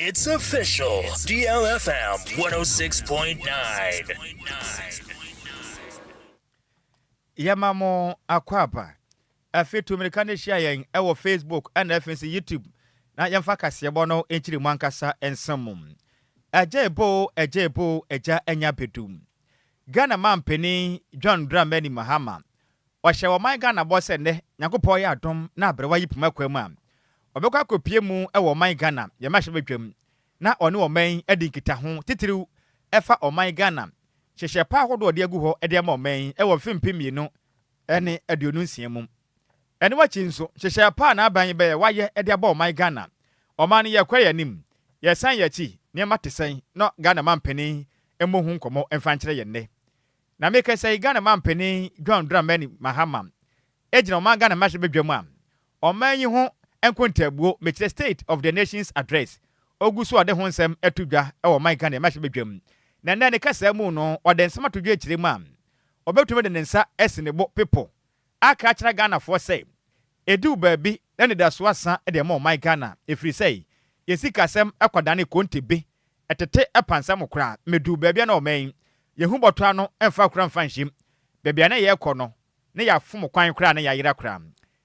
It's official, DLFM 106.9. Yɛma mo akwaaba. Afei tu mmirika no hyia yɛn wɔ Facebook na afei nso YouTube na yɛmfa kaseɛbɔ no nkyiri mu ankasa nsɛm mu. Agya ebo, agya ebo, agya anya bedu. Ghana mampanin John Dramani Mahama Ɔhyɛ ɔman Ghana bɔ sɛ nnɛ Nyankopɔn yɛ adom na aberewa yi poma kwan mu a, ɔbɛkɔ akɔpue mu wɔ ɔman Ghana yɛ mmarahyɛbadwam na ɔne ɔman yi adi nkitaho titiriw ɛfa ɔman Ghana nhyehyɛɛ pa ahodoɔ a ɔde agu hɔ de ama ɔman yi wɔ mfe mpem mmienu ne aduonu nsia mu. Ɛno akyi nso, nhyehyɛɛ pa a n'aban yi bɛyɛ wayɛ de abɔ ɔman Ghana, ɔman no yɛkɔ yɛn anim, yɛsan yɛn akyi, nneɛma te sɛn, na Ghana mampanin mmɔ ho nkɔmmɔ mfa nkyerɛ yɛn nnɛ. Na me kasa yi Ghana manpanin John Dramani Mahama gyina ɔman Ghana mmarahyɛ badwam a ɔman yi ho nkontaabuo mekyerɛ state of the nation's address ɔgu so a ɔde ho nsɛm to dwa wɔ ɔman Ghana mmarahyɛ badwam na nnɛ ne kasaa mu no ɔde nsɛm ato dwa kyerɛ mu a ɔbɛtumi de ne nsa asi ne bo pepo aka akyerɛ Ghanafoɔ sɛ ɛduru baabi na anidasoɔ asa de ama ɔman Ghana ɛfiri sɛ yɛn sikasɛm kɔdanee konte bee Ɛtete pansam mu koraa. Meduu baabi a na wɔma yi yɛhu bɔtɔ ano mfa kura mfa nhyem. Baabi a na yɛrekɔ no, na yɛafom kwan koraa na yɛayera koraa.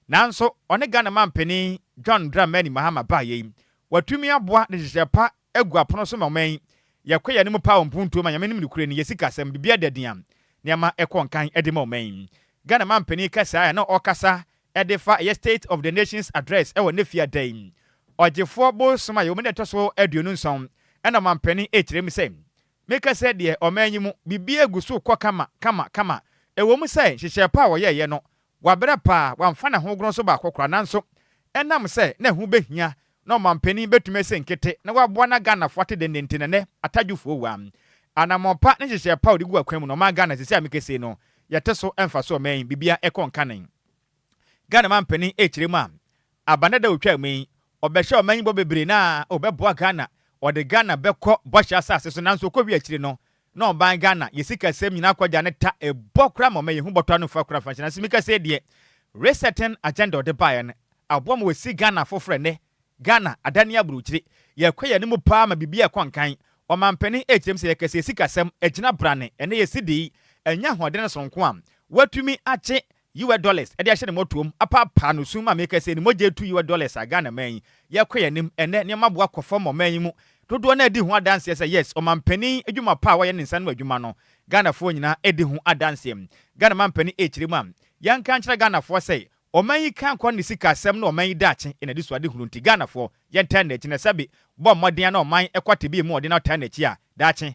Nanso wɔne Ghana manpanin John Dramani Mahama baeɛ yi, watumi aboa de nhyehyɛɛ pa agu apono so ma ɔman yi. Yɛkɔ yɛn anim paa wɔ mpuntuo mu a Nyame nim ne kure ne yɛn sikasɛm biribiara da din a nneɛma rekɔ nkan de ma ɔman yi. Ghana manpanin kasaa a na ɔkasa Ɛdefa ɛyɛ State of the Nation's Address wɔ Nefia da yi, Ɔgyefoɔ Bosom a yɛwɔ mu nnɛ ɛtɔ so aduonu nson, ɛna Ɔmampanin rekyerɛ mu sɛ, Meka sɛ deɛ ɔman yi mu biribiara gu so rekɔ kama, kama, kama. Ɛwɔ mu sɛ nhyehyɛɛ pa a wɔyɛeɛ no, wabrɛ paa, wamfa ne ho goronn so baako koraa, nanso ɛnam sɛ na ɛho bɛhia na ɔmanpanin bɛtumi asi nkete na waboa na Ghanafoɔ ate dendenten na nnɛ atadwofoɔ wua. Anammɔn pa ne nhyehyɛɛ pa a ɔde gu akwan mu na ɔmaa Ghana sisi a meka sei no yɛte so ɛmfa so ɔman yi biribiara ɛkɔ nkanen. Ghana manpanin ɛrekyerɛ mu a aba nnɛ da a ɔtwaa mu yi ɔbɛhyɛ ɔman yi bɔ bebree na ɔbɛboa Ghana ɔde Ghana bɛkɔ bɔhyɛ asase so nanso ɔkɔwie akyire no na ɔban Ghana yɛ sikasɛm nyina akɔgya ne ta ɛbɔ kora ma ɔmɛyi ho bɔtɔ ano fa kora fanhyɛ nanso mika sɛ deɛ resetting agenda ɔde baeɛ no aboa ma wasi Ghana foforɔ ɛnnɛ Ghana adane aburokyire yɛkɔ yɛn anim paa ma biribiara ɛkɔ nkan ɔmanpanin ɛkyerɛm sɛ yɛka sɛ yɛ sikasɛm agyina brane ɛnnɛ yɛsi dei anya ahoɔdene soronko a watumi akye US dollars de ahyɛ ne mmɔtoam apaapaa no sum ma mekɛse ne mogya retu US dollars a Ghana man yi yɛkɔ yɛn anim ɛnnɛ nneɛma boa kɔ fam ma ɔman yi mu dodoɔ no ara di ho adanseɛ sɛ yes ɔmanpanin adwuma pa a wayɛ ne nsa ano adwuma no Ghanafoɔ nyinaa di ho adanseɛ Ghana manpanin ɛrekyerɛ mu a yɛnka nkyerɛ Ghanafoɔ sɛ ɔman yi kan kwan ne sika asɛm ne ɔman yi daakye yɛn anisoadehunu nti Ghanafoɔ yɛntaa nni akyi na sɛbe bɔ mmɔden a na ɔman kɔ tebea mu ɔde na ɔtaa nni akyi a daakye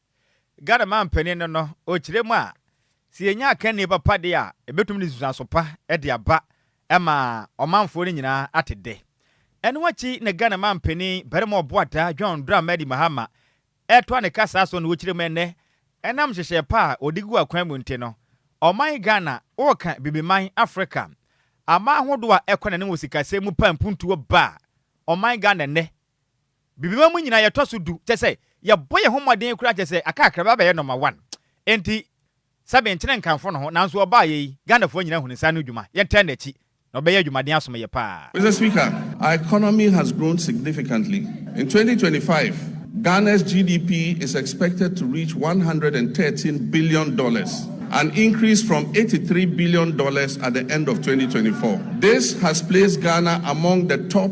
Ghana manpanin no no, ɔkyerɛ mu a, sɛ yɛnya akannie papa deɛ a, ɛbɛtumi de nsunsuanso pa de aba ma ɔmanfoɔ no nyinaa ate dɛ. Ɛno akyi na Ghana manpanin barima ɔboataa John Dramani Mahama ɛtoa ne kasa so na ɔkyerɛ mu ɛnnɛ, ɛnam nhyehyɛɛ pa a ɔde gu akwan mu nti no, ɔman Ghana ɔreka Bibiman Afrika aman ahodoɔ a ɛkɔ n'anim wɔ sikasɛm mu pa mpuntuo ba ɔman Ghana nnɛ. Bibema mu nyinaa yɛtɔ so du, kyerɛ sɛ, yɛbɔ yɛn ho mmɔden koraa kyerɛ sɛ aka akra bi abɛyɛ nɔma wan. Enti, sɛ menkyene nkamfo no ho, nanso ɔbaayɛ yi, Ghanafoɔ nyinaa hu ne saa no dwuma, yɛntɛn n'akyi, na ɔbɛyɛ adwumaden asom yɛ paa. Mister Speaker, our economy has grown significantly. In twenty twenty five, Ghana's GDP is expected to reach one hundred and thirteen billion dollars, an increase from eighty three billion dollars at the end of twenty twenty four. This has placed Ghana among the top.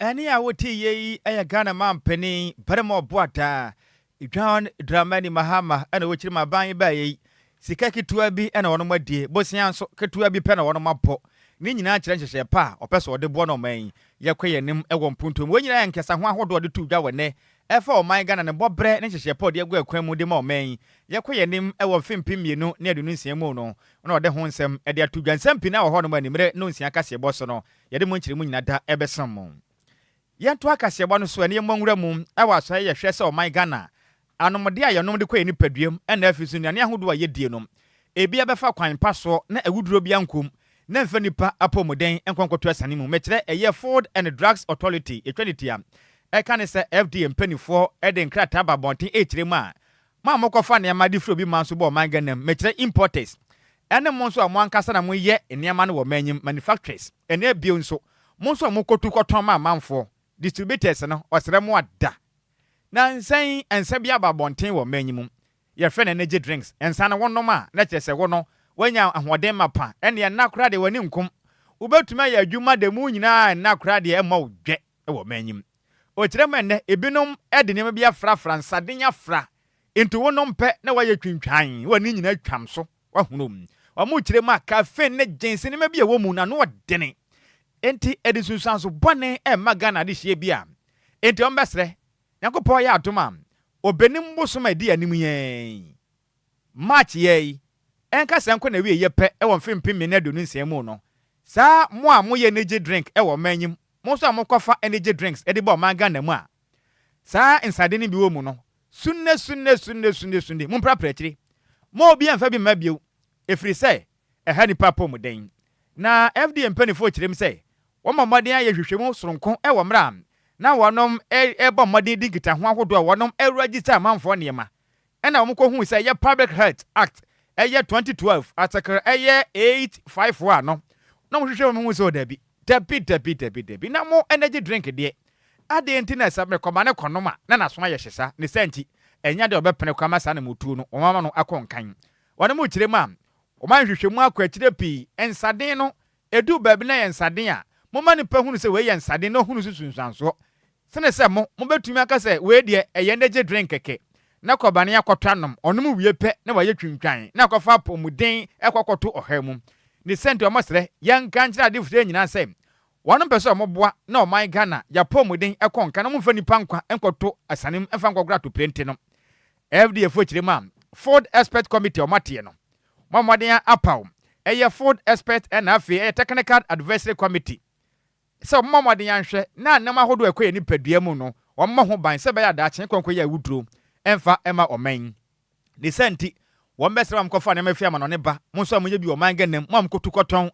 Ɛnne a wotiiɛ yi yɛ Ghana manpanin barima ɔboataa, John Dramani Mahama na ɔkyiri ma aban yi baeɛ yi. Sika ketewa bi na wɔnom adie, bosea nso ketewa bi pɛ na wɔnom abɔ. Ne nyinaa kyerɛ nhyehyɛɛ pa a ɔpɛ sɛ ɔde boa no ɔman yi. Yɛkɔ yɛn anim wɔ mpuntuo mu. Wei nyinaa yɛ nkesaho ahodoɔ a ɔde to dwa wɔ nnɛ ɛfa ɔman Ghana ne bɔbrɛ ne nhyehyɛɛ pa a ɔde agu ɛkwan mu de ma ɔman yi. Yɛkɔ yɛn anim wɔ mfe mpem mmienu ne aduonu nsia mu no na ɔde ho nsɛm de ato dwa. Nsɛm pii na ɛwɔ hɔnom a animerɛ no nsia kaseɛbɔ so no Yɛde mo nkyeremu nyina da bɛsom mo. Yɛnto akaseɛbɔ no so ɛne yɛmmɔ nwura mu wɔ asɔre a yɛhwɛ sɛ ɔman Ghana anomdeɛ a yɛnom de kɔ yɛn nipaduam na afiri so nnuane ahodoɔ a yɛdie no ebi abɛfa kwan pa soɔ na awuduro biara nkom na ɛmfa nnipa apɔmuden nkɔ nkɔto asiane mu. Mekyerɛ ɛyɛ Food and Drugs Authority yɛtwa ne ti a ɛka ne sɛ FDA mpaninfoɔ de nkrataa ba abɔnten rekyerɛ mu a Mo a mokɔfa nneɛma de firi obi man so ba ɔman Ghana mu, mekyerɛ importers, ɛne mo nso a mo ankasa na moyɛ nneɛma no wɔ ɔman yi mu, manufacturers, ɛne bio nso, mo nso a mokɔtu kɔtɔn ma amanfoɔ, distributors no, ɔsrɛ mo ada. Na nsa yi, nsa bi aba abɔnten wɔ ɔman yi mu, yɛfrɛ no energy drinks, nsa no wonom a, na kyerɛ sɛ wo no, woanya ahoɔden mapa, ɛnneɛ nna koraa deɛ w'ani nkum, wobɛtumi ayɛ adwuma da mu nyinaa a nna koraa deɛ ɛmmɔ wo dwɛ wɔ ɔman yi mu. Ɔkyerɛ ma nnɛ ebinom de nneɛma bi afrafra, nsaden afra, nti wo nom pɛ na wayɛ twintwan, wo ani nyinaa twam so, wahunu. Wɔkyerɛ mu a caffeine ne gins nneɛma bi a ɛwɔ mu no ano ɔdene, nti ɛde nsunsuanso bɔne rema Ghana adehyeɛ bi a nti wɔbɛsrɛ Nyankopɔn yɛ adom a ɔbɛnim bosom a ɛdi yɛn anim yɛn yi. March yɛɛ yi, ɛnka sɛ ɛnkɔ n'awieɛ pɛ wɔ mfe mpem mmienu ne aduonu nsia mu no, saa mo a moyɛ energy drink wɔ ɔman yi mu, mo nso a mokɔfa energy drinks de ba ɔman Ghana mu a saa nsade no bi wɔ mu no, sunne, sunne, sunne, sunne, sunne, momprapra akyire. Mma obiara mfa bi mma bio, ɛfiri sɛ ɛha nnipa apɔmuden. Na FDA mpanimfoɔ kyerɛ mu sɛ wɔma mmɔden ayɛ nhwehwɛmu sononko wɔ mmerɛ a na wɔnom rebɔ mmɔden di nkitaho ahodoɔ a wɔnom register amanfoɔ nneɛma ɛna wɔn kɔ hui sɛ ɛyɛ public health act ɛyɛ twenty twelve atekere ɛyɛ eight five one no na wɔn hwehwɛ wɔn hu sɛ o dabi dabi dabi dabi dabi na mo energy drink deɛ adeɛ nti na ɛsɛ me kɔma ne kɔnom a na naso ayɛ hye saa ne saa nti ɛnyɛ adeɛ ɔbɛ pene kora ma saa na mo tuo no wɔn ama no akɔ nkan wɔn mo kyerɛ mu a wɔn ayɛ hwehwɛ mu akɔ akyire pii nsaden no edu baabi na yɛ nsaden a mo ma nipa hunu sɛ wei yɛ nsaden na ohunu so sunsuansoɔ Sene sɛ mo, mobɛtumi aka sɛ wei deɛ ɛyɛ energy drink kɛkɛ, na kɔbane akɔtɔ anom, ɔnom wie pɛ na wayɛ twintwan na akɔfa apɔmuden ɛkɔ akɔto ɔhaw mu. Ne sɛ nti wɔsrɛ yɛn nka nkyerɛ adefoɔ yi nyinaa sɛ wɔnom pɛ sɛ wɔn boa na ɔman Ghana yɛ apɔmuden ɛkɔ nka na wɔn mfa nipa nkwa nkɔto asiane mu mfa nkɔgoro atoprente no. FDA foɔ kyerɛ mu a Food Expert Committee wɔn ateɛ no, wɔn a wɔn aden apaw ɛyɛ Food Expert ɛna afei ɛyɛ Technical Advisory Committee sɛ wɔbɛbɔ mmɔden ahwɛ na nneɛma ahorow a ɛkɔ yɛn nipadua mu no, wɔmmɔ ho ban sɛ ɛbɛyɛ a daakye nkwa a ɛkɔ yɛ awuduru mfa mma ɔman yi. Ne saa nti, wɔbɛsrɛ mo a mokɔfa nneɛma fi amanɔnne ba, mo nso a moyɛ bi wɔ ɔman Ghana mu, mo a mokotu kɔtɔn,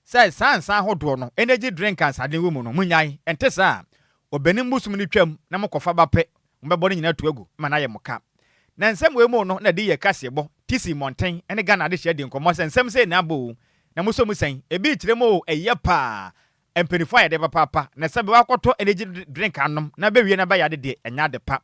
sɛ saa nsã ahodoɔ no, energy drink a nsaden wɔ mu no, monnyae. Ɛnte saa a, ɔbɛnim bosom no twam na mokɔfa ba pɛ. mobɛbɔ no nyinaa atu agu ma no ayɛ mo ka. Nansɛm wei mu no na de yɛ kaseɛbɔ, tisi mmɔnten ne Ghana adehyɛ di nkɔmmɔ sɛ nsɛm sei na abɔ oo, na mosɔ mu sɛn, ebi kyerɛ mu oo ɛyɛ paa, mpanyinfoɔ ayɛ dɛ papaapa, na sɛbe wakɔtɔ energy drink anom na bɛwie na bɛyɛ ade deɛ ɛnyɛ ade pa.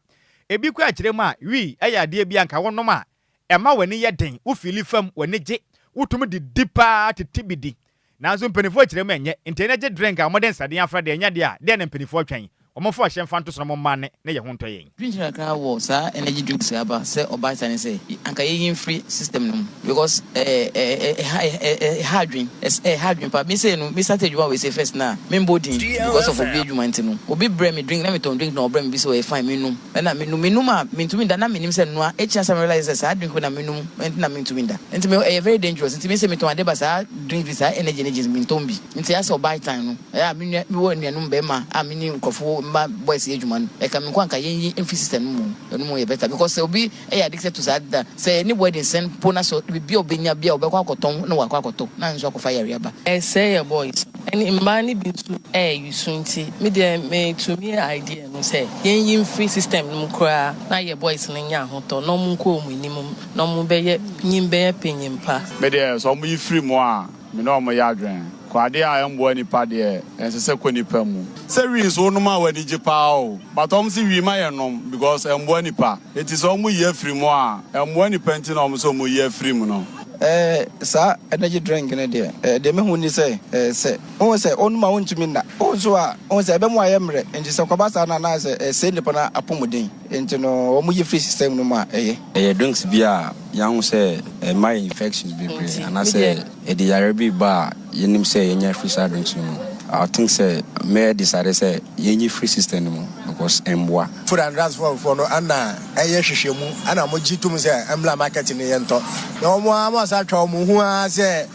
Ebi koraa kyerɛ mu a wii ɛyɛ adeɛ bi a nka wonom a Ɛma w'ani yɛ den, wo fiili fam, w'ani gye, wotumi de di paa tete bi di. Nanso mpaninfoɔ kyerɛ mu ɛnyɛ, ntɛn na gye drink a wɔde nsaden afra deɛ ɛnyɛ deɛ a, deɛ na mpaninfoɔ twɛn? Wɔmfa ɔhyɛ mfa nto so na momma nne na yɛho ntɔ yɛn. Dwendwene kakra wɔ saa energy drinks yi aba sɛ ɔbaata ne sɛ anka yɛyi mfiri system no mu because ɛha adwene, ɛha adwene paa. Me sei no me start adwuma wei sei first na memmɔ din because of obi adwuma nti no obi brɛ me drink na metɔn drink na ɔbrɛ me bi sɛ ɔyɛ fine mennom. na menum menum a mentumi nda na menim sɛ noa akyi ansa me realise sɛ saa drink wei na menum nti na mentumi nda nti me ɛyɛ very dangerous nti me sɛ metɔn ade ba saa drinks bi saa energy energy mentɔn bi nti as ɔ buy time no ɛyɛ a me nua mewɔ anuanom bɛɛma a me ne nkorɔfo mma boys yɛ adwuma no ɛka me nko anka yɛnyi mfi system no mu ɛno mu yɛ better because sɛ obi Ɛyɛ ade ketewa to saa ade no a, sɛ ne wedding sɛn mpo na sɛ biribi a obenya bi a ɔbɛkɔ akɔtɔn na wakɔ akɔtɔ na nso akɔfa yare aba. Ɛsɛe yɛn boys ne mmaa no bi nso ayesu nti me deɛ me to me idea no sɛ yɛn yi mfiri system no mu koraa na yɛ boys no nya ahotɔ na wɔn nkɔ wɔn anim na wɔn bɛyɛ nyim bɛyɛ panyin pa. Me deɛ sɛ wɔn yi firi mu a. Me ne wɔn yɛ adwene. Kɔ adeɛ a ɛmboa nipa deɛ ɛnsɛ sɛ kɔ nipa mu. Sɛ wii nso wonom a w'ani gye paa o but wɔn se wii ma yɛ nom because ɛmboa nipa eti sɛ wɔn yi afiri mu a ɛmboa nipa nti na wɔn se wɔn yi afiri mu no. Ɛɛ saa energy drink no deɛ ɛɛ deɛ mehu ni sɛ ɛɛ sɛ wohu sɛ wonom a wontumi nna wohu nso a wohu sɛ ɛbɛ mu ayɛ mmerɛ nti sɛ kɔba saa no anaasɛ ɛɛ sɛe nipa no apɔmuden nti no wɔn yi firi system no mu a ɛyɛ. Ɛyɛ drinks bi a yɛahu sɛ ɛma yɛ infections bebree anaasɛ ɛde yareɛ bi ba a yɛnim sɛ yɛnya afiri saa drinks no mu. I think sɛ mɛ decide sɛ yɛnyi firi system no mu because ɛmmoa. Food and Drugs Fund foɔ no na ɛyɛ hwehwɛmu na wɔgye tom sɛ mmra market no yɛntɔ. Na wɔn ara wɔasan atwa wɔn ho ara sɛ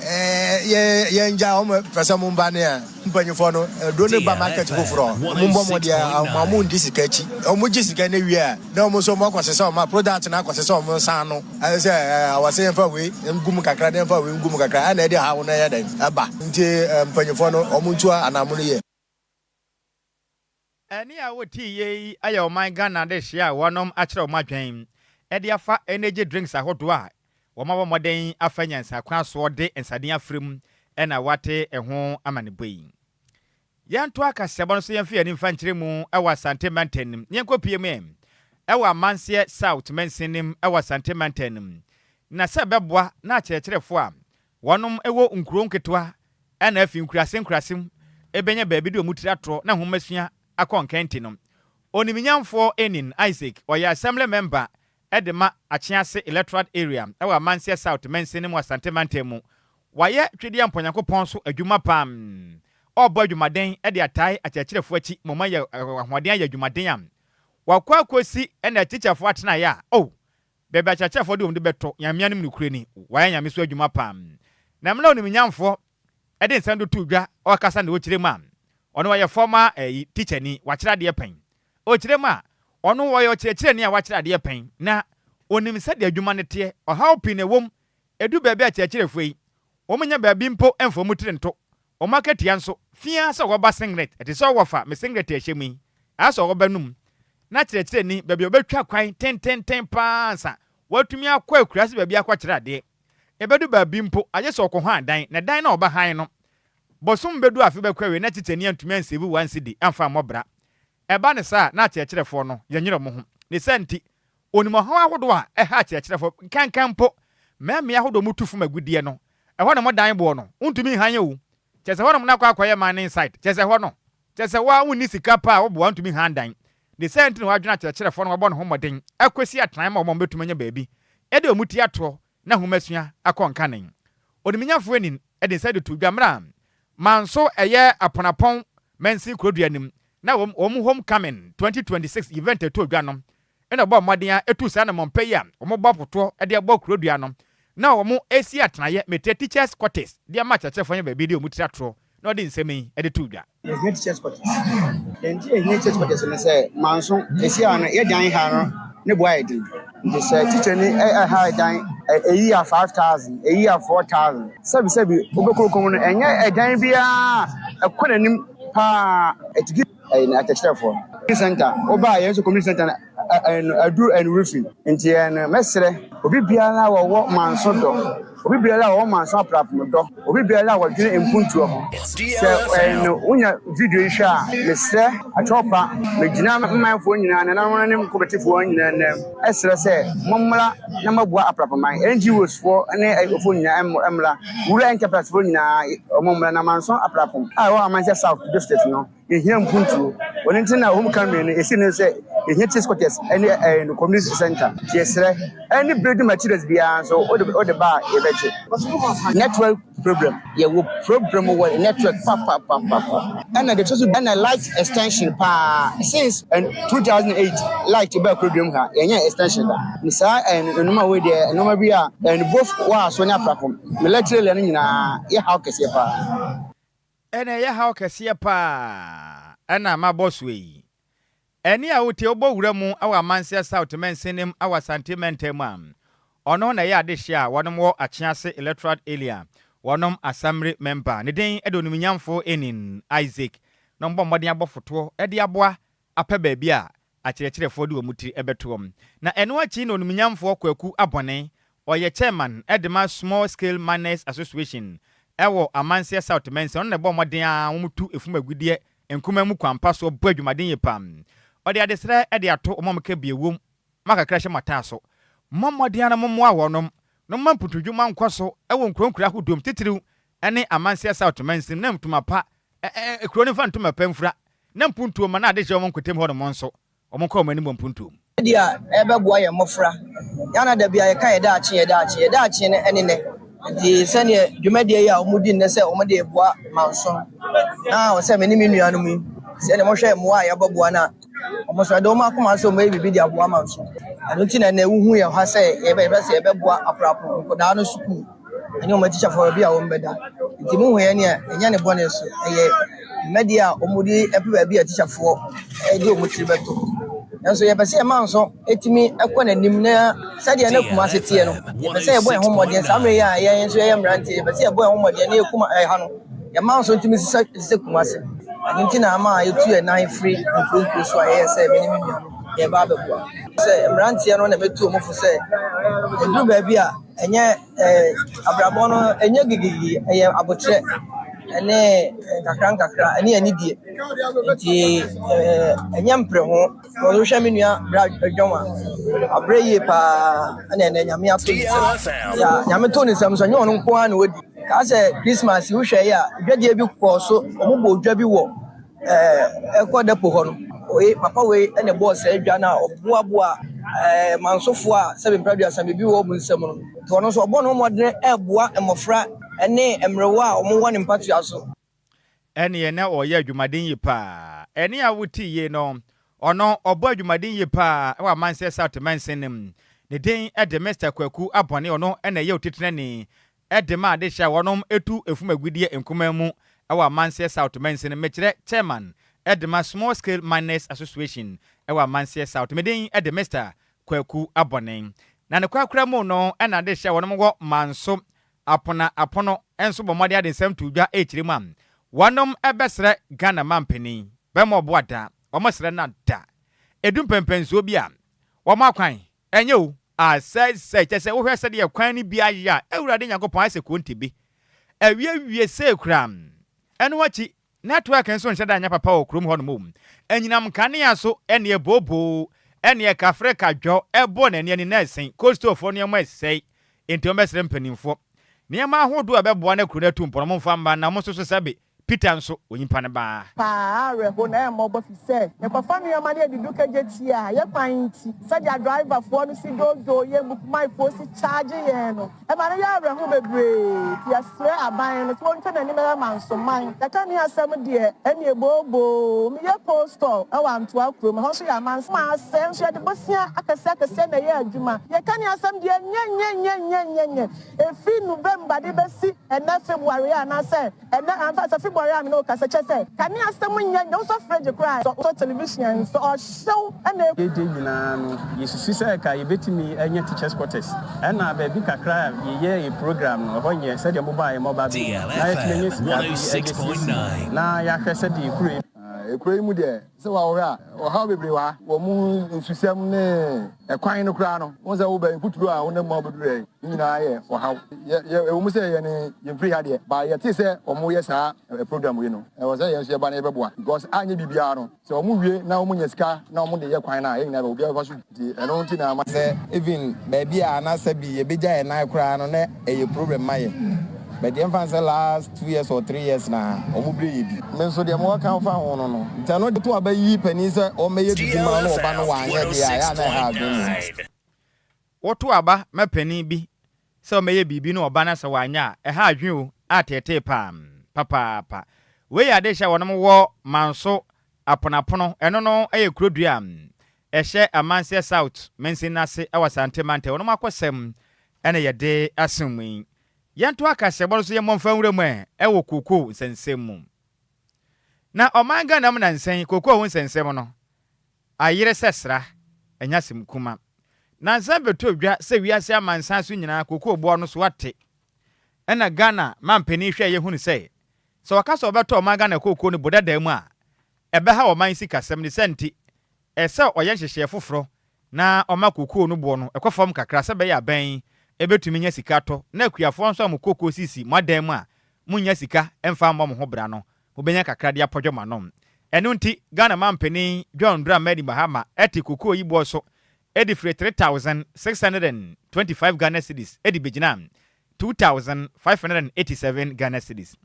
yɛngyae wɔn pɛ sɛ wɔn ba no a. Mpanyinfoɔ no duro no ba market foforɔ a, wɔn mmɔ mmɔden ara ma wɔn ndi sika akyi. Wɔn gye sika no wie a, na wɔn nso wɔn akɔ sesa wɔn a product no akɔ sesa wɔn nsa ano. Ayɛ sɛ ɛɛ ɔsɛ yɛn fa wei ngu mu kakra na yɛn fa wei ngu mu kakra ɛna ɛde haw no ɛyɛ dɛn ɛba. Nti mpanyinfoɔ no wɔn ntua anaamono yie. Ɛne a wotii yɛ yi ayɛ ɔman Ghana dehyɛ a wɔnom akyerɛ wɔn adwen de afa energy drinks ahodoɔ a wɔabɔ mmɔden afa nyansa kwan soɔ de nsaden afra mu na wɔate ɛho amanebɔ yi. Yɛntoa kaseɛbɔ no so yɛmfa yɛn ani mfa nkyerɛ mu wɔ Asante Mantam no mu, yɛnkɔ pue mu ɛ wɔ Amanseɛ South Mansin no mu wɔ Asante Mantam no mu na sɛ bɛboa na akyerɛkyerɛfoɔ a Wɔnom wɔ nkurow nketewa na afi nkurase nkurase mu bɛnya baabi de wɔn tiri atorɔ na nhomasua akɔ nkɛnte no. Oniminyamfoɔ Enin Isaac, ɔyɛ Assembly Mɛmba de ma Akyease Electoral Area wɔ Amanseɛ South Mansin no mu Asante Mantam mu. Wayɛ Twedeɛ Mpɔ Nyankopɔn so adwuma pa ara. Ɔrebɔ adwumaden de atae akyerɛkyerɛfoɔ akyi ma wɔayɛ ahoɔden ayɛ adwumaden a wɔakɔ akɔsi na atikyafoɔ atenaeɛ a, oh, Baabi a akyerɛkyerɛfoɔ de wɔn de bɛto nyamea no mu nokorɛ ni, wɔayɛ nyame so adwuma pa ara, na mmerɛ a onimnyamfoɔ de nsɛm do too dwa, ɔɔkasa na ɔɔkyerɛ mu a, ɔno ɔyɛ fɔmaa ɛyi, tikyani, wakyerɛ adeɛ pɛn. Ɔɔkyerɛ mu a, ɔno ɔyɛ ɔkyerɛkyerɛni a wakyerɛ adeɛ pɛn, na ɔnim sɛdeɛ adwuma no teɛ, ɔhaw pii na ɛwɔ mu Edu baabi a kyerɛkyerɛfo yi, wɔnnya baabi mpo mfa wɔn tiri nto. Wɔn akatua nso, fi ara sɛ wɔba singlet, ɛte sɛ wɔfa me singlet a ɛhyɛ mu yi, ara sɛ wɔba no mu, na kyerɛkyerɛni, baabi a wɔbɛtwa kwan tententen pa ara ansa wɔatumi akɔ akuraase baabi akɔkyerɛ adeɛ. Ebedu baabi mpo, agye sɛ wɔkɔhan dan, na dan no a wɔbɛhan no, bɔsom bedu afe bɛkɔ awiei na tikyani antumi anseevu wɔn sidi amfa ammɔ bra. Ɛba no saa a, na akyerɛkyerɛfoɔ no yɛnyere wɔn ho. Ne saa nti, wɔnim ɔhaw ahodoɔ a ɛha akyerɛkyerɛfoɔ. Nkanka mpo, mmɛn mmea ahodoɔ mu tu fam agudeɛ no, ɛhɔ na wɔdan boɔ no, wontumi nhan yɛ o, kyerɛ sɛ hɔnom na akɔ akɔyɛ mining site, kyerɛ sɛ ɛhɔ no, kyerɛ sɛ wo ara wonni sika pa a wo boɔ antumi nhan dan. Ne saa nti na wɔadwene akyerɛkyerɛfoɔ no wɔabɔ ne ho mmɔden akɔsi atenae ma wɔn a wɔbɛtumi anya baabi de wɔn ti ato na nhomasua akɔ nkanen. Oniminyafo Enin de nsa de too dwa mmerɛ a Manso ɛyɛ Aponapɔn mansin kurodua no mu na wɔn wɔn Home Coming 2026 event too dwa no na ɔbɔɔ mmɔden a etu saa anammɔnpa yi a wɔn bɔ afotoɔ de abɔ kurodua no na wɔn ɛsi atenaeɛ Meteɛ Teachers Quarters de ama akyerɛkyerɛfoɔ nyɛ baabi de wɔn tiri atorɔ na ɔde nsɛm yi de too dwa. Yɛhia te church quarters. Deɛ nti a yɛhia church quarters ne sɛ, manso ɛsi a no yɛ dan ha no ne boa yɛ den. Nti sɛ teacher ni ɛha ɛdan ɛyi yɛ five thousand, ɛyi yɛ four thousand. Sɛbi sɛbi wobɛkoko mu no ɛnyɛ ɛdan biara ɛkɔ n'anim paa ɛtigi ɛyi atɛkyerɛfoɔ. Community center, wobaa yɛn so community center no. aduru ɛnu refi nti ɛnu mɛsrɛ obi biara a wɔwɔ manso dɔ obi biara a wɔwɔ manso aprapno dɔ obi biara a wɔdwene mpuntuo ho sɛ ɛnu wonya video yi hwɛ a mesrɛ atwɔpa megyina mmanfoɔ nyinaa nananom ne mkɔbɛtefoɔ nyinaa nnɛ ɛsrɛ sɛ mommra na moaboa aprapoman NGOs foɔ ne ɛfoɔ nyinaa mmra rural enterprise foɔ nyinaa wɔmmra na manso aprapom a ɛwɔ amanhyɛ south district no Yehia mpuntuo. Ɔno nti na wɔn kan mmienu esi no sɛ yehia cheese quarters ɛne ɛɛ no community center. Nti yɛsrɛ ɛne building materials biara nso wode wode ba a yɛbɛgye. Network problem. Yɛwɔ problem wɔ network papapapaapa. Ɛna deɛ ɛtɔ so ɛna light extension paa since ɛn two thousand eight light baa kuroduam ha yɛnyɛ extension da. Ne saa ɛn nnoɔma wei deɛ nnoɔma bi a ɛn both wɔ aso ne aprapom ne electric lɛ no nyinaa yɛ haw kɛseɛ paa. Ɛna ɛyɛ haw kɛseɛ paa na mabɔ soɛ yi. Ɛne a wote wobɔ wura mu wɔ Amanseɛ South mansin no mu wɔ Asante mantam mu a ɔno na ɛyɛ adehyeɛ a wɔnom wɔ Akyease Electoral Area wɔnom Asammire mɛmba ne din de Onimnyamfoɔ Enin Isaac na wɔbɔ mmɔden abɔ fotoɔ de aboa apɛ baabi a akyerɛkyerɛfoɔ de wɔn tiri bɛto wɔn. Na ɛno akyi na onimnyamfoɔ Kwaku Abɔne, ɔyɛ chairman de ma Small Scale Miners Association wɔ Amanseɛ South Mansin, ɔno na ɛbɔɔ mmɔden ara wɔtu efum agudeɛ nkumaa mu kwan pa soɔ bɔ adwumaden yie paa. Ɔde adesrɛ de ato wɔn a wɔka bio wom, Mo akakra hyɛ mo ataaso. Mommɔ mmɔden ara na mommoa wɔnom na momma mpuntudwuma nkɔ so wɔ nkuraa nkuraa ahodoɔ mu, titiriw ne Amanseɛ South Mansin mu na ntoma pa Ɛɛ, kuro no mfa ntom ɛpɛ mfura na mpuntuo mma na adehyeɛ wɔ wɔn nkotam hɔnom nso, wɔnkɔ wɔn anim wɔ mpuntuo mu. Sɛdeɛ a ɛbɛboa yɛn mmɔfra. Yɛn a na da biara yɛka yɛn daakye, yɛn daakye, yɛn daakye no ne nnɛ. Enti sɛdeɛ dwumadie yi a wɔdi nnɛ sɛ wɔde reboa manso na wɔn sɛ me ne me nuanom yi, sɛdeɛ wɔhwɛ mmoa a yɛbɛboa no a, wɔn nso ɛde wɔn akoma sɛ wɔbɛyɛ biribi de aboa manso. Ɛno nti na nnɛ wohu yɛn ha sɛ yɛbɛhwɛ sɛ yɛbɛboa Aprapro nkwadaa no sukuu. ɛne wɔn atikyafoɔ baabi a wɔbɛda. Nti mohuiɛ ne a, ɛnyɛ ne bɔne so. Ɛyɛ mmɛdeɛ a wɔde pɛ baabi a atikyafoɔ de wɔn tiri bɛto. Nanso yɛpɛ sɛ yɛma nso tumi kɔ n'anim na sɛdeɛ na Kumasi teɛ no, yɛpɛ sɛ yɛbɔ yɛn ho mmɔden. Saa mmerɛ yi a yɛn nso yɛyɛ mmeranteɛ, yɛpɛ sɛ yɛbɔ yɛn ho mmɔden na yɛkum ɛha no, yɛma nso tumi sisa te sɛ Kumasi. Ɛno nti na ama yɛtu yɛn nan firi nkuro nkuro so a yɛyɛ sɛ me ne me nuanom yɛreba abɛboa. Sɛ mmeranteɛ no na mɛtu wɔn fo sɛ ɛduru baabi a, Ɛnyɛ eh, abrabɔ no ɛnyɛ gigigigi, ɛyɛ abotrɛ ɛne nkakrankakra ɛne anidie. Nti eh, ɛnyɛ mpere ho. Wɔhwɛ me nua bra dwom a, abrɛ yie paa ɛna ɛnɛ nyame ato ne nsam. Ya nyame to ne nsam so, ɛnyɛ ɔno nko ara na wadi. Kaa sɛ Christmas wohwɛ yɛ a, dwadie bi kɔɔ so, wɔn bɔ dwa bi wɔ Ɛkɔ dɛpo hɔ no, wei papa wei na ɛbɔɔ saa adwa no a ɔboaboa ɛɛ mansofoɔ a sɛbe mpra aduasa biribi wɔ wɔn nsam no. Nti ɔno nso ɔbɔ ne ho mmɔdene reboa mmɔfra ne mmerewa a wɔwɔ ne mpatoa so. Ɛneɛ na ɔyɛ adwumaden yie paa. Ɛne a wote yei no, ɔno ɔbɔ adwumaden yie paa wɔ Amansɛ South mansin no mu. Ne din de Mister Kwaku Abɔne, ɔno na ɛyɛ otitenani de ma de hyɛ wɔnom tu efum agudie nkumaa mu wɔ Amanseɛ South Mansin Mekyerɛ Chairman de ma Small Scale Miners Association wɔ Amanseɛ South Me din de Mister Kwaku Abɔne Na ne kwakora mu no na de hyɛ wɔnom wɔ Manso Apona Apono nso bɔ mmɔden de nsɛm too dwa rekyerɛ mu a wɔnom bɛsrɛ Ghana Mampanin bɛma ɔboa da wɔn srɛ no a da edu mpɛnpɛnsoɔ bi a wɔn akwan Ɛnyɛ o, asɛesɛe, kyerɛ sɛ wohwɛ sɛdeɛ kwan no bi ayɛ a, Awurade Nyankopɔn ayɛ sɛ kontebe. Awiewie sei koraa, ɛno akyi, nɛtwɛɛk nso nhyɛ da nyɛ papa wɔ kurom hɔnom o, anyinam nkanea so ne ɛbooboo, ne ɛkafre kadwɔ, ɛbɔ na ani ani na ɛsen, Coastalfoɔ nneɛma resɛe, enti wɔbɛsrɛ mpanimfoɔ nneɛma ahodoɔ a ɛbɛboa na kuro no atu mpɔn no momfa mma na mo nso so sɛbe Peter nso, onyimpa no baa. Paa awerɛho na ɛmmɔbɔ fi sɛ yɛkɔfa nnoɔma no yɛde du kagye tia yɛ kwan nti. Sɛdeɛ driver foɔ no si doodoo yɛn Bukmai foɔ si charge yɛn no ɛma no yɛ awerɛho bebree nti yɛsrɛ aban no sɛ wɔntwa nanim yɛ mansoman yɛka ne asɛm deɛ ɛneɛ booboo me yɛ coal store ɛwɔ Antoa kuro mu ɛhɔ nso yɛ amansoman asɛɛ nso yɛde bosea akɛseɛ akɛseɛ na ɛyɛ adwuma yɛka ne asɛm deɛ nyɛnyɛnyɛnyɛnyɛnyɛ Efi November de besi ɛnnɛ February a anaasɛ ɛnnɛ a, mfa sɛ February a me ne wo kasa, kyerɛ sɛ, kane asɛm nyɛ nea wosɔ fridge koraa ɛ, sɛ wosɔ television ɛ, sɛ ɔhyew na egu. Yɛn gyɛ nyinaa no, yɛsusu sɛ ɛka yɛbɛtumi anya teachers quarters, ɛna baabi kakra a yɛyɛɛ yɛn program no, ɛhɔ nyɛ sɛdeɛ mobɔ a yɛmma ɔba bio, na yɛatumi anya sika bi de asiesie mu, na yɛahwɛ sɛdeɛ kuro yi. Kuro yi mu deɛ, Sɛ wahohɛ a, ɔhaw bebree wɔ ha wɔ mo nsusɛm ne ɛkwan no koraa no. Wohu sɛ woba yi, mfuturo a wonam mu a wobɛduru ha yi no nyinaa yɛ ɔhaw. Yɛ, yɛ, ɛwɔ mu sɛ yɛne yɛmfiri ha deɛ, but yɛtee sɛ wɔyɛ saa ɛ, program wei no. Ɛwɔ sɛ yɛn nso yɛba na yɛbɛboa, because anyɛ biribiara no, sɛ wɔwie na wɔnya sika na wɔde yɛ kwan no a, yɛn nyinaa bɛba, obiara bɛfa so bi. Nti ɛno nti na ama sɛ even baabi a na sɛ bi yɛbɛgya yɛn nan koraa no na ɛyɛ problem ma yɛn but yɛmfa no sɛ last two years or three years na wɔn brɛ yɛ bi. Me nso deɛ mewɔ ka fa ho no no nti ɛno de to aba yi panin sɛ ɔmmɛyɛ biribi ma wo na ɔba no wanyɛ deɛ a ɛyɛ a na ɛha adwene mmom. Woto aba ma panin bi Sɛ wɔbɛyɛ biribi na wɔba na sɛ wɔanyɛ a, ɛha adwene o, a teetee paa, papaapa. Wei yɛ adehyɛ a wɔnom wɔ Manso, Aponapono, ɛno no yɛ kuro dua a ɛhyɛ Amanseɛ South mansini no ase wɔ Asante Mantam, wɔnom akɔsɛm na yɛde asom mu yi. Yɛnto akaseɛbɔ no so yɛmmɔ mfa nwura mu ɛ wɔ kokoo nsɛnsɛm mu. Na ɔman Ghana mu nansa yi, kokoo ho nsɛnsɛm no, Ayere sɛ sra, ɛnyɛ asɛm kuma. Nansa bɛtɔ dwa sɛ wiase amansan so nyinaa kokoo boɔ no so ate. Ɛna Ghana manpanin hwɛeɛ hunu sɛ, sɛ wɔka sɛ wɔbɛtɔ ɔman Ghana kokoo no bodadaa mu a, ɛbɛha ɔman sikasɛm. Ne saa nti, ɛsɛ sɛ ɔyɛ nhyehyɛɛ foforɔ na ɔma kokoo no boɔ no kɔ fam kakra sɛ ɛbɛyɛ aban yi bɛtumi nya sika tɔ na akuafoɔ nso a mo kokoo sisi mo adan mu a monnya sika mfa mmɔ mo ho bra no mobɛnya kakra de apɔdwɔ mo anom. Ɛno nti, Ghana Manpanin John Dramani Mahama te kokoo yi boɔ so de firii 3625 Ghana cedis de bɛgyinaa 2587 Ghana cedis.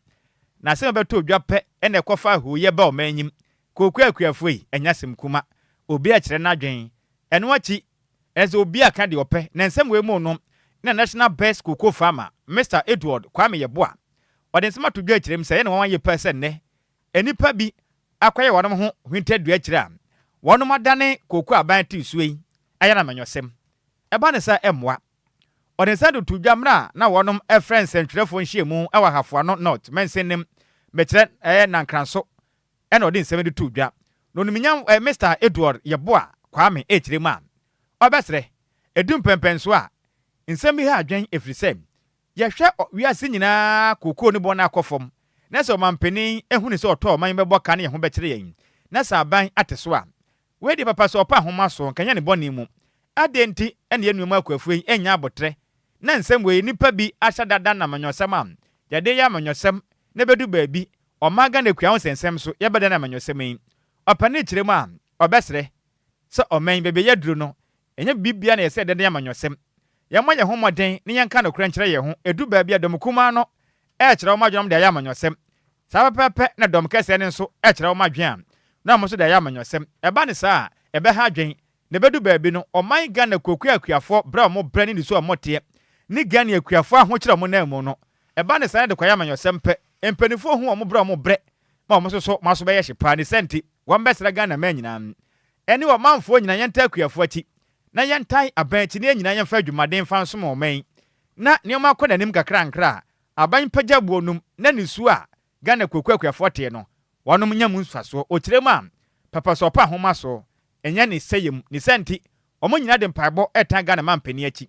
N'asɛm a ɛbɛtoo dwa pɛ na ɛkɔfaa hooyɛ baa ɔman nyim. Kooko Akuafo yi nyɛ asɛm kuma. Obi a kyerɛ n'adwen. Ɛno akyi, ɛsɛ sɛ obi a ka deɛ ɔpɛ. Na nsɛm wei mu no na National Best Cocoa Farmer, Mister Edward Kwame Yeboah, Wɔde nsɛm ato dwa kyerɛ mu sɛ ɛyɛ nwanwa yiye paa sɛ nnɛ nnipa bi akɔyɛ wɔn ho hintadua akyiri a wɔnom adane kooko aban a ɛte nsuo yi ayɛ no amanyɔsɛm. Ɛba no saa a, ɛmmoa. Wɔde nsɛm de too dwa mmere a na wɔnom frɛ nsɛntwerɛfoɔ nhyiamu wɔ Ahafoano North Mansin no mu, mekyerɛ, ɛyɛ Nankranso na wɔde nsɛm yi de too dwa. Na Onimnyam Mister Edward Yeboah Kwame rekyerɛ mu a, ɔbɛsrɛ, Edu mpɛmpɛnsoɔ a, nsɛm yi ha adwene, ɛfiri sɛ, Yɛhwɛ wiase nyinaa a kookoo ne bɔn akɔ fam na sɛ ɔmampanin hu no sɛ ɔtɔ ɔman yi bɛbɔ ka ne yɛn ho bɛkyere yɛn na sɛ aban ate so a. Wei deɛ papa sɛ ɔpa nhoma so nka nyɛ ne bɔne mu. Adɛn nti na yɛn nua mu akuafo yi nnya aboterɛ na nsɛm wei nnipa bi ahyɛ da da no amanyɔsɛm a yɛde yɛ amanyɔsɛm na ɛbɛdu baabi ɔman Ghana akua ho nsɛnsɛm so yɛbɛda no amanyɔsɛm yi ɔpanin kyerɛ mu a ɔbɛsrɛ sɛ ɔman yi baabi a yɛaduru no Ɛnyɛ biribiara na yɛsrɛ dɛndɛn amanyɔsɛm. Yɛmmɔ yɛn ho mmɔden na yɛnka nokorɛ nkyerɛ yɛn ho. Ɛduru baabi a dɔm kumaa no kyerɛ wɔn adwenem de ayɛ amanyɔsɛm. Saa ara pɛpɛɛpɛ na dɔm kɛseɛ no nso kyerɛ wɔn adweam na wɔn nso de ayɛ amanyɔsɛm. Ɛba no saa a, ɛbɛha adwene. Na ɛbɛdu baabi no, ɔman Ghana kuakua akuafoɔ berɛ a wɔn brɛ ne nniso a wɔn teɛ ne Ghani akuafoɔ ahokyerɛ a wɔn nan mu no. Ɛba no saa na ɛde kɔyɛ amanyɔsɛm pɛ. Mpaninfoɔ hu wɔn berɛ a wɔn brɛ ma wɔn nso so wɔn aso bɛyɛ hye paa. Ne saa nti, wɔn bɛsra Ghana man nyinaa. Ɛne ɔmanfoɔ nyinaa yɛntaa akuafoɔ akyi, na yɛntan aban akyi, na yɛn nyinaa yɛmfa adwumaden mfa nsom ɔman yi, na nneɛma akɔ n'anim nkakrankra a aban pagya boɔ nom, na nisuo a Ghana akuakuo akuafoɔ tee no, wɔnom nya mu mfasoɔ. Ɔkyerɛ mu a, papa so ɔpa ahomasoɔ, ɛnyɛ ne sɛeɛ mu. Ne saa nti, wɔn nyinaa de mpaebɔ retan Ghana mampanin akyi.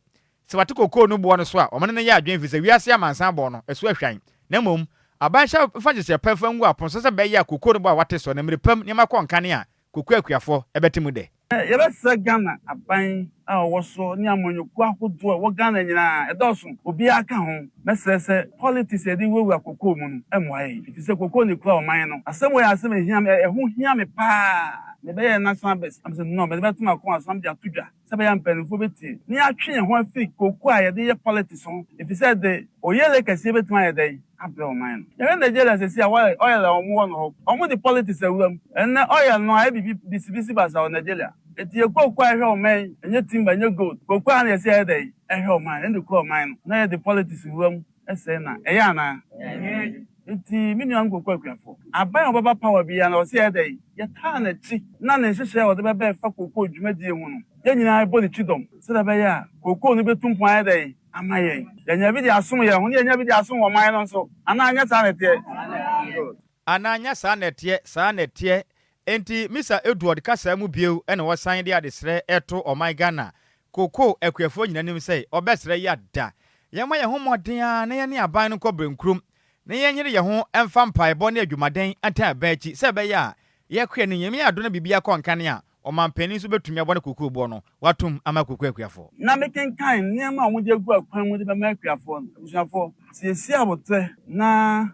Sɛ wɔate kokoo no boɔ no so a, wɔn ne no yɛ adwene, ɛfiri sɛ wiase amansan bɔɔ no, ɛso ahwan. Na mmom, aban hyɛ mfa nhyehyɛɛ pa mfa ngu apono so sɛ bɛyɛ a kokoo no boɔ a wɔate so, na mmerɛ pa mu, nneɛma kɔ nkanea, Koku Akuafɔ ɛbɛte mu dɛ. Yɛbɛsrɛ Ghana aban a ɔwɔ so ne amanyɔkuo ahodoɔ a ɛwɔ Ghana nyinaa, ɛdɔɔso, obiara ka ho, mɛsrɛ sɛ politics a yɛde wurawura kokoo mu no mmoa yɛn, ɛfiri sɛ kokoo na ɛkura ɔman no. Asɛm wei yɛ asɛm a ɛhia me, ɛho hia me paa. Mebɛyɛɛ National Best na mesɛ no, mede bɛto m'akoma so na mede ato dwa. sɛbɛyɛ a mpanyimfo betie na yɛatwe yɛn ho afi kooko a yɛde yɛ politics ho, efisɛ ɛde, oyele kɛse betumi ayɛ dɛn abrɛ ɔman no? Yɛhwɛ Nigeria sɛsi a, oil, oil a wɔwɔ no hɔ, wɔde politics awura mu. Ɛnnɛ, oil no ayɛ biribi bisibisi basaa wɔ Nigeria. Enti yɛ kooko a ɛhwɛ ɔman yi, ɛnyɛ timber, ɛnyɛ gold, kooko a na yɛse yɛyɛ dɛn? Ɛhwɛ ɔman, ɛna ekura ɔman no, na yɛde politics wura mu. Ɛsɛe na, ɛyɛ anaa? Ɛnyɛ. Enti, me nua nkurɔfo akuafo, aban a ɔbɛba power biara no, ɛwɔ sɛ yɛyɛ dɛn? Yɛtaa n'akyi, na ne nhyehyɛe a ɔde bɛba ɛfa kookoo dwumadie ho no, yɛn nyinaa yɛbɔ ne kyidɔm, sɛdeɛ ɛbɛyɛ a kookoo no bɛtu mpɔn ayɛ dɛn? Ama yɛn. Yɛanya bi de asom yɛn ho, na yɛanya bi de asom wɔ man no nso. Anaa ɛnyɛ saa na ɛteɛ? Saa na ɛteɛ. Anaa ɛnyɛ saa na ɛteɛ? Saa na ɛteɛ. Enti, Mister Edward kasaa mu bio na wɔsan de adesrɛ reto ɔman Ghana Kokoo akuafoɔ nyina nim sɛ ɔbɛsrɛ yɛ a da yɛmɔ yɛn ho mmɔden ara na yɛne aban no nkɔ Brenkurom na yɛnyere yɛn ho mfa mpaebɔ ne adwumaden ntaa aban akyi sɛ ɛbɛyɛ a yɛakoa ne Nyame adɔ na biribiara kɔ nkane a ɔmanpanin nso bɛtumi abɔ ne kokoo boɔ no watom ama Kokoo akuafoɔ. Na me kenkan nneɛma a wɔde agu akwan mu de bɛma akuafoɔ no, abusuafoɔ, siesie aboterɛ na.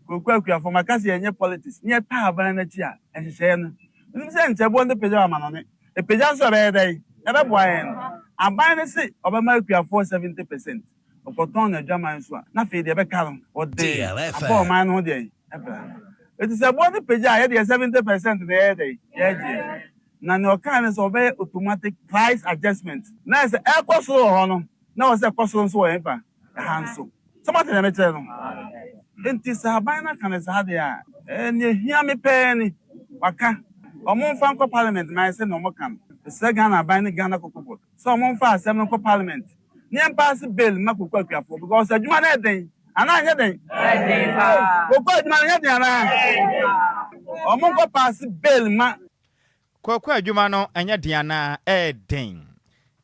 Kooko Akuafo, maka sɛ yɛnyɛ politics ne yɛtaa aban no akyi a, nhyehyɛeɛ no, wonim sɛ nkyɛ boɔ no bɛpagyaw amanɔne. Ɛpagya nso a ɛbɛyɛ dɛn? Ɛbɛboa yɛn. Aban no se ɔbɛma akuafoɔ 70 percent. Ɔkɔtɔn n'adwaman nso a, na afei deɛ ɛbɛka no, ɔde abɔ ɔman no ho deɛn? Bra. Enti sɛ boɔ no pagya a, yɛ deɛ 70 percent na yɛyɛ dɛn? Yɛgyeɛ. Na nea ɔkae ne sɛ wɔbɛyɛ automatic price adjustment. Na ayɛ sɛ ɛrekɔ soro wɔ hɔ no, na ɛwɔ sɛ ɛkɔ soro nso wɔ yɛn fa. ha nso. So moate nea mekyerɛ no? Enti sɛ aban no aka no saa de a, ɛɛ, nea ehia me pɛɛ ni. Wɔaka, wɔmfa nkɔ Parliament ma ayɛ sɛnea wɔka no. Mesrɛ Ghana aban ne Ghana Cocoa Board sɛ wɔmfa asɛm no nkɔ Parliament na yɛmpaase bill mma cocoa akuafoɔ because adwuma no yɛ den, anaa ɛnyɛ den? Ɛyɛ den paa. Cocoa adwuma no nyɛ den anaa? Ɛyɛ den paa. Wɔnkɔpaase bill mma. Kooko adwuma no nyɛ den anaa? Ɛyɛ den.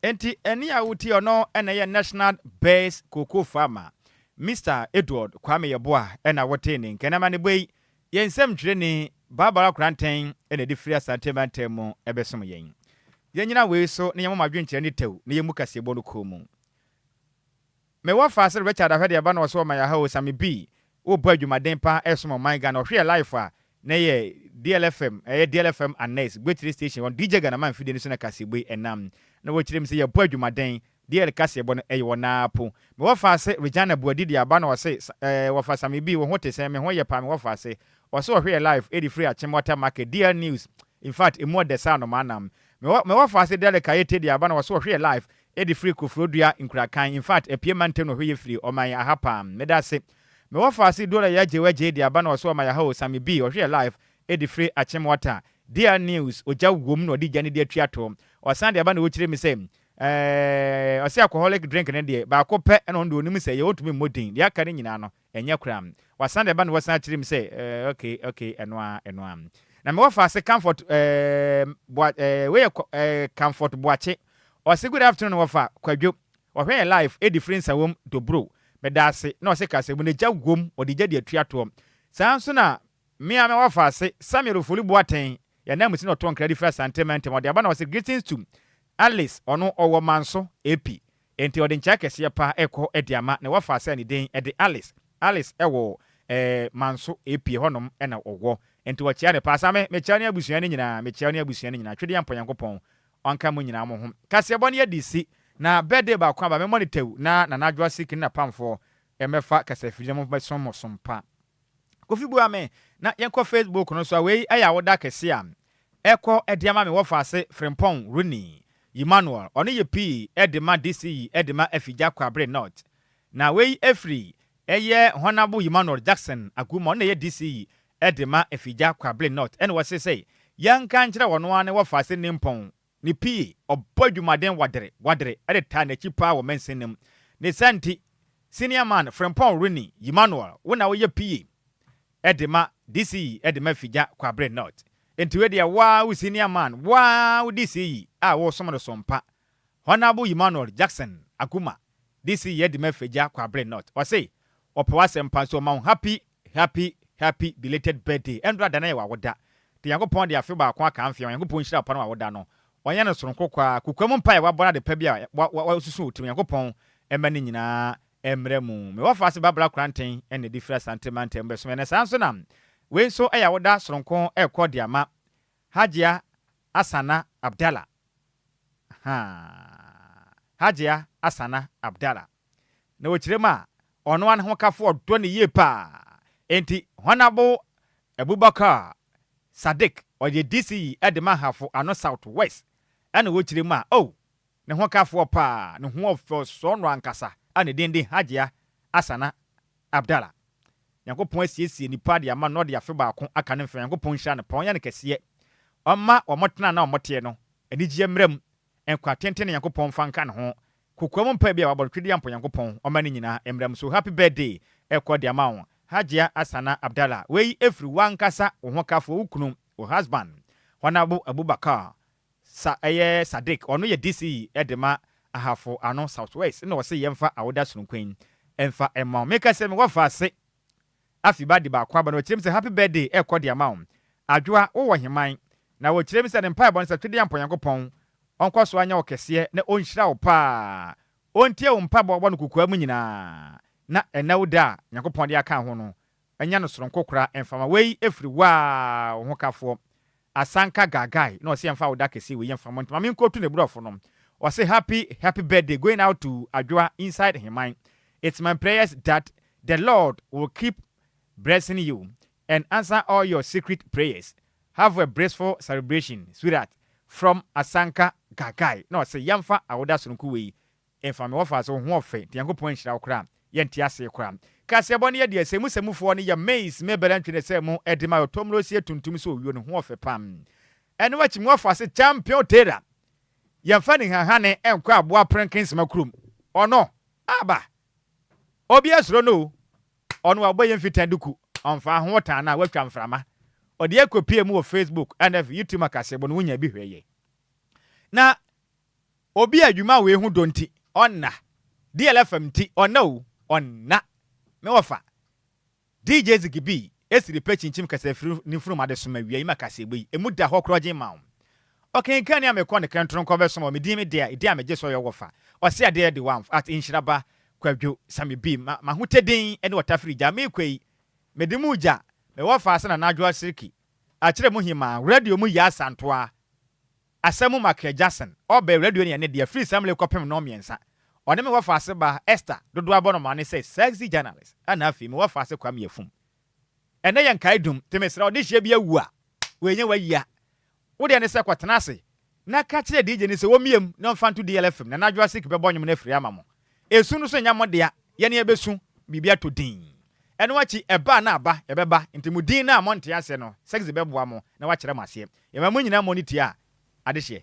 Enti ɛne a wotie ɔno na ɛyɛ National Best Cocoa Farmer, Mister Edward Kwame Yeboah na wotee ne nka. Na amanebɔ yi, yɛn nsɛm twerɛni, Barbara Koranteng na ɛde firi Asante Mantam mu bɛsom yɛn. Yɛnnyina wei so na yɛmmɔ mo adwenkyerɛ ne tɛw na yɛmmu kaseɛbɔ no kɔn mu. Me wɔ fa se Richard ahwɛ deɛ ba na ɔse ɔma yɛ ha o Sammy B wo bɔ adwumaden paa ɛsom ɔman Ghana ɔhwe yɛ life a na ɛyɛ DLFM ɛyɛ DLFM Annex Gbetre station wɔ DJ Ganaman mfidie no so na kaseɛbɔ yi ɛnam na wo kyerɛ mu se yɛ bɔ adwumaden DL kaseɛbɔ no ɛyɛ wɔ naa po Me wɔ fa se Regina Boadi deɛ aba na ɔse ɛɛ wɔ fa Sammy B wo ho te sɛn me ho yɛ paa me wɔ fa se ɔse ɔhwe yɛ life ɛde firi Akyem Water Market DL News infact ɛmu ɔdɛ saa anomaa nam Me wɔ fa se Derrick Ayete deɛ aba na ɔse ɔhwe yɛ life Edi firi kofro dua nkura kan in fact apie mantam no hwe ye firi ɔman aha paam meda ase me wɔ faase duo na ya gye wɛ gye de aba na ɔso ɔman aha o sami bii ɔhwe yɛ live edi firi akyem wata dea news ogya wom na ɔde gya no de atua to ɔsan de aba na ɔkyire me sɛ eh ɔse alcoholic drink no deɛ baako pɛ na ɔno deɛ ɔnim sɛ yɛ ɔntumi mmɔ din deɛ aka no nyinaa no Ɛnyɛ koraa. Wasan de ba na wasan akyerɛ mu sɛ, eh, okay, okay, ɛno ara, ɛno ara. Na mewɔ fa se Comfort, eh, Boa, eh, wei yɛ, eh, Comfort Boakye. Ɔse, Good afternoon, wɔ fa, Kwadwo. Ɔhwɛ yɛn live, edi firi nsa wom, Dobro. Meda ase. Na ɔse Kasamu no gya wom, ɔde gya de atua toɔ. Saa ara nso na Me ara me wɔ afaase, Samuel Ofori Boateng, yɛ ananmusi na ɔtɔn kradi firi Asante mantam. Ɔde aba na ɔse Greetings to Alice, ɔno ɔwɔ Manso, Epi. Enti ɔde nkyɛe kɛseɛ pa rekɔ de ama ne wɔ afaase a ne din de Alice. Alice wɔ eh, Manso, Epi, ɛhɔ nom na ɔwɔ. Enti wɔkyea no paa. Saa me, mekyea wo ne abusua no nyinaa, mekyea wo ne abusua no nyinaa. Twɛdeɛ Ampa Nyankopɔn ɔnka mo nyinaa mo ho. Kaseɛbɔ no yɛde resi, na birthday baako aba, memmɔ no tɛw na Nana Adwoa Sikini na Pamfoɔ mmɛfa kasafidie na mommɛsom mo som pa. Kofi bua me na yɛnkɔ Facebook no so a wei yɛ awoda kɛse a ɛkɔ de ama me wɔfaase Frimpong Runi Ymanuel, ɔno yɛ pii de ma DCE de ma Afigya Kwabre North. Na wei firi ɛyɛ Honourable Ymanuel Jackson Aguuma, ɔno na ɛyɛ DCE de ma Afigya Kwabre North, ɛna ɔse sɛ yɛnka nkyerɛ ɔno ara ne wɔfaase Nimpong Ne pii, ɔbɔ adwumaden wadere wadere de taa n'akyi paa wɔ mɛnsen no mu. Ne saa nti, Senior Man Frimpong Ronnie Ymanuel, wo na woyɛ pii de ma DCE de ma Figya Kwabre North. Nti wei deɛ wo ara wo Senior Man, wo ara wo DCE a woresom no so mpa. Honourable Ymanuel Jackson Aguma. DC Yedima Fegya Kwabre North. Ɔse ɔpɛ w'asɛm pa nso ɔma wo happy happy happy belated birthday. Ɛndora da no yɛ w'awoda. Deɛ Nyankopɔn de afe baako aka mfeɛ ho, Nyankopɔn nhyira wo pa na w'awoda no ɔnyɛ no soronko koraa. Kokoam mpaeɛ wabɔ na adepa bi a wasusu wo tirim Nyankopɔn mma ne nyinaa mmra mu. Me wɔfa ase Babla Koraten na ɛde firi Asante Mantam bɛsom yɛn. Ɛnɛ saa nso na wei nso ɛyɛ awoda soronko ɛrekɔ de ama Hajia Asana Abdallah Ahaa Hajia Asana Abdallah na wɔkyerɛ mu a, ɔnoa ne ho kafoɔ dɔ no yie paa enti Honourable Abubakar Sadiq ɔyɛ DCE de ma Ahafo Ano South West ɛna wɔkyerɛ mu a oh ne ho kafoɔ paa ne ho ɔfɛ ɔsɔ no ankasa a ne din de Hajia Asana Abdallah. Nyankopɔn asiesie nipa de ama no na ɔde afe baako aka ne mfe Nyankopɔn nhyira no paa ɔnyɛ no kɛseɛ ɔmma wɔn tena na wɔn teɛ no anigyeɛ mmra mu nkwa tenten na Nyankopɔn mfa nka ne ho kokoam mpae bi a wabɔ no twedeɛ ampo Nyankopɔn ɔmma ne nyinaa mmra mu so happy birthday ɛkɔ de ama wo Hajia Asana Abdallah wei ɛfiri wo ankasa wo ho kafoɔ wo kunu wo husband Honourable Abubakar Sa ɛyɛ Sadiq ɔno yɛ DC de ma Ahafo ano South West na ɔse yɛmfa awoda sononko yi mfa mma wo. Meka sɛ mewɔ mfaase afi ba de baako aba na wɔkyerɛ me sɛ happy birthday ɛkɔ de ama wo. Adwoa wowɔ heman? Na wɔkyerɛ me sɛ ne mpaebɔ no sɛ Twedeɛ Ampɔn Nyankopɔn ɔnkɔ so anyɛ wo kɛseɛ na ɔnhyira wo paa, ɔntie wo mpabɔ wɔ no kokoa mu nyinaa na ɛnna wo da a Nyankopɔn de aka ho no Ɛnyɛ no soronko koraa mfama wei ɛfiri woaa wo ho kafoɔ asanka gagae na ɔse yɛmfa wo da kɛseɛ wei mfama nti ma menkɔ tu ne brɔfo no ɔse happy happy birthday going out to adwoa inside heman it's my prayers that the lord will keep bressing you and answer all your secret prayers have a bressful celebration sweetheart from asanka gagae na ɔse yɛmfa awoda soronko wei Ɛmfa me wɔfa so, wo ho ɔfɛ nti Nyankopɔn anhyira wo koraa Yɛ nte asee koraa Kaseɛbɔ no yɛ deɛ sɛ mu sɛ mu foɔ no yɛ maize me bɛrɛ ntwene sɛ mo ɛde ma yɔ tɔmuro sie tuntum sɛ owio no ho ɔfɛ pam Ɛno akyi me wɔfa se champion Tera Yɛ mfa nihahane nkɔ aboa prenken sema kurom Ɔno aba Obi asuro no oo Ɔno a ɔbɔ yɛ mfitan duku Ɔmfaa ho ɔtaa no a watwa mframa Ɔde yɛ kɔ pie mu wɔ facebook ɛna ɛf YouTube ma kaseɛbɔ no wo nya bi hwɛ yɛ na Obi a dwuma wei ho dɔ nti, ɔnna. DLFM nti, ɔnna o, ɔnna. Me wɔfa, DJ Ziggy B, Esiri pɛ kyinkyim kɛsɛ firi ne mfunuma de soma wia yi ma kaseɛbɔ yi, emu da hɔ korɔgyen ma wo. Ɔkenkanni a mekɔ ne kɛntoro nkɔ bɛsoma wɔ me din me dea, edin a megye so yɛ wɔfa, ɔse adeɛ de wamf at nhyira ba Kwadwo Sammy B, ma m'ahotedin ne ɔtafiri gya mekɔ yi, mede mu gya me wɔfa ase Nana Adwoa Siriki, akyerɛ mu hemaa, radio mu Yaa Santoa. Asamu Makia Jackson, ɔbɛɛ radio no yɛ ne dea firi saa mmerɛ yi kɔpem nnɔn mmiɛnsa. Ɔne me wɔfaase baa, Esther, dodoɔ abɔ no maa ne sɛ sexy journalist, ɛna afei me wɔfaase Kwame Afum. Ɛnnɛ yɛ nkaedum, nti mesrɛ wo dehyeɛ bi awu a, wei nyɛ w'ayia. Wo deɛ ne sɛ kɔtena ase na ka kyerɛ DJ no sɛ ɔmmie mu na ɔmfa nto DLFM na Nana Jurassic bɛbɔ nnwom no afiri ama mo. Esu no so nyɛ mo dea, yɛne yɛbɛsu, biribi atɔ din. Ɛno akyi, ɛba a na aba, ɛbɛba, enti mo din no a monte aseɛ no, Sexy bɛboa mo na wakyerɛ mo aseɛ. Yɛma mo nyinaa mmɔ no tiaa adehyeɛ.